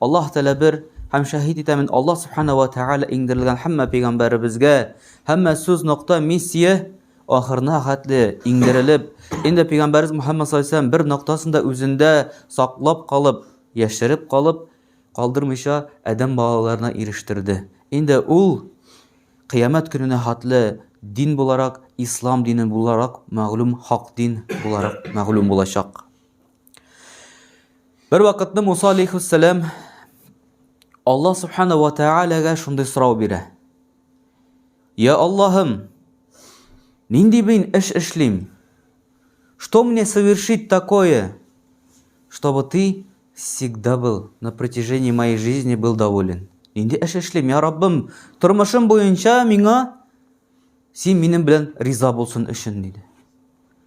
Аллаһ Тәгалә бер һәм шәһид итә мин Аллаһ Субхана ва Тәгалә иңдерелгән һәммә пәйгамбәребезгә, һәммә сүз нокта миссия ахырына хәтле иңдерелеп, инде пәйгамбәребез Мухаммад саллаллаху бер ноктасында үзендә саклап калып, яшереп калып, калдырмыйча адәм балаларына ирештерде. Инде ул кыямәт көненә хәтле дин буларак, ислам дине буларак мәгълүм, хак дин буларак мәгълүм булачак. Бер вакытны Муса алейхиссалам Аллаһ субхана ва таалагә шундый сорау бирә. Я Аллаһым, нинди мин эш эшлим? Что мне совершить такое, чтобы ты всегда был на протяжении моей жизни был доволен? Нинди эш эшлим, я Раббым, тормышым буенча миңа син минем белән риза булсын өчен, диде.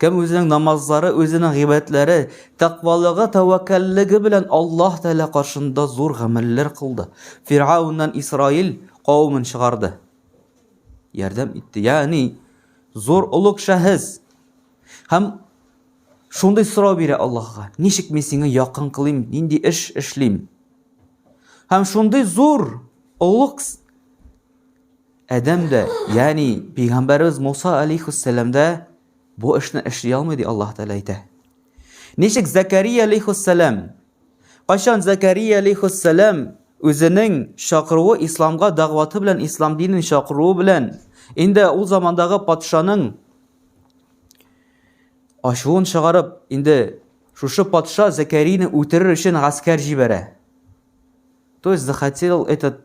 Кем үзенең намазлары, үзенең гыйбадәтләре, тәкъвалыгы, тәвәккәллеге белән Аллаһ Тәгалә каршында зур гамәлләр кылды. Фиргавннан Исраил кавымын чыгарды. Ярдәм итте. Ягъни зур олуг шәхес. Һәм шундый сорау бирә Аллаһка. Ничек мин сиңа якын кылыйм, нинди эш эшлим? Һәм шундый зур олуг Адәм дә, ягъни пәйгамбәребез Муса алейхиссәлам да бу эшне эшли алмый ди Аллаһ Тәгалә әйтә. Ничек Закария алейхиссәлам? Кайчан Закария алейхиссәлам үзенең чакыруы исламга дәгъваты белән ислам динен чакыруы белән инде ул замандагы патшаның ачуын чыгарып, инде шушы патша Закарияне үтерер өчен гаскәр җибәрә. То есть захотел этот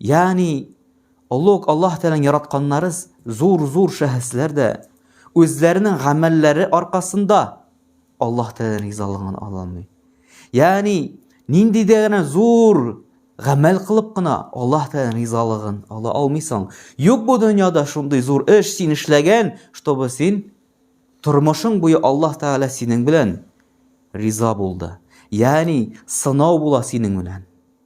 Ягъни Олуг Аллаһ Тәгаләнең яратканнары зур-зур шәхесләр дә үзләренең гамәлләре аркасында Аллаһ Тәгаләнең ризалыгын ала алмый. Ягъни нинди дә генә зур гамәл кылып кына Аллаһ Тәгаләнең ризалыгын ала алмыйсың. Юк бу дөньяда шундый зур эш син эшләгән, чтобы син тормышың буе Аллаһ Тәгалә синең белән риза булды. Ягъни сынау була синең белән.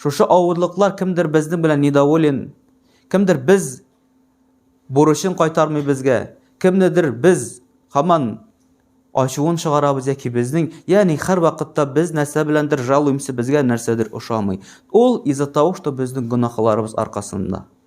Шушы авырлыклар кемдер безнең белән недоволен, кемдер без бурычын кайтармый безгә, кемнедер без хаман ачуын чыгарабыз яки безнең, ягъни һәр вакытта без нәрсә беләндер жалуемся, безгә нәрсәдер ошамый. Ул из-за того, что безнең гөнаһларыбыз аркасында.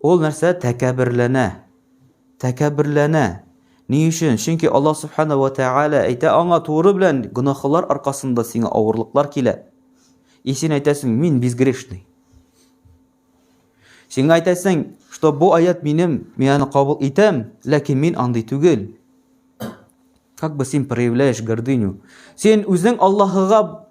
Ул нәрсә тәкәбберләнә. Тәкәбберләнә. Ни өчен? Чөнки Аллаһ Субхана ва Тәгалә әйтә аңа туры белән гөнаһлар аркасында сиңа авырлыклар килә. И син әйтәсең, мин безгрешный. Сиңа әйтәсең, что бу аят минем, мин аны кабул итәм, ләкин мин андый түгел. Как бы син проявляешь гордыню. Син үзең Аллаһыга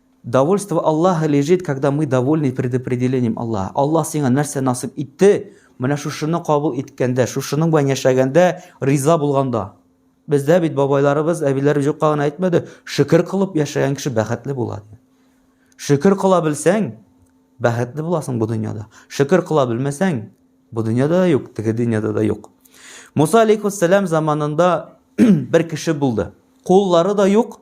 Довольство Аллаха лежит, когда мы довольны предопределением Аллаха. Аллаһ сиңа нәрсә насыйп итте, менә шушыны кабул иткәндә, шушының белән яшәгәндә, риза булганда. Бездә бит бабайларыбыз, әбиләребез юкка гына әйтмәде, шөкер кылып яшәгән кеше бәхетле була. Шөкер кыла белсәң, бәхетле буласың бу дөньяда. Шөкер кыла белмәсәң, бу дөньяда да юк, теге дөньяда да юк. Муса алейхиссалам заманында бер кеше булды. Куллары да юк,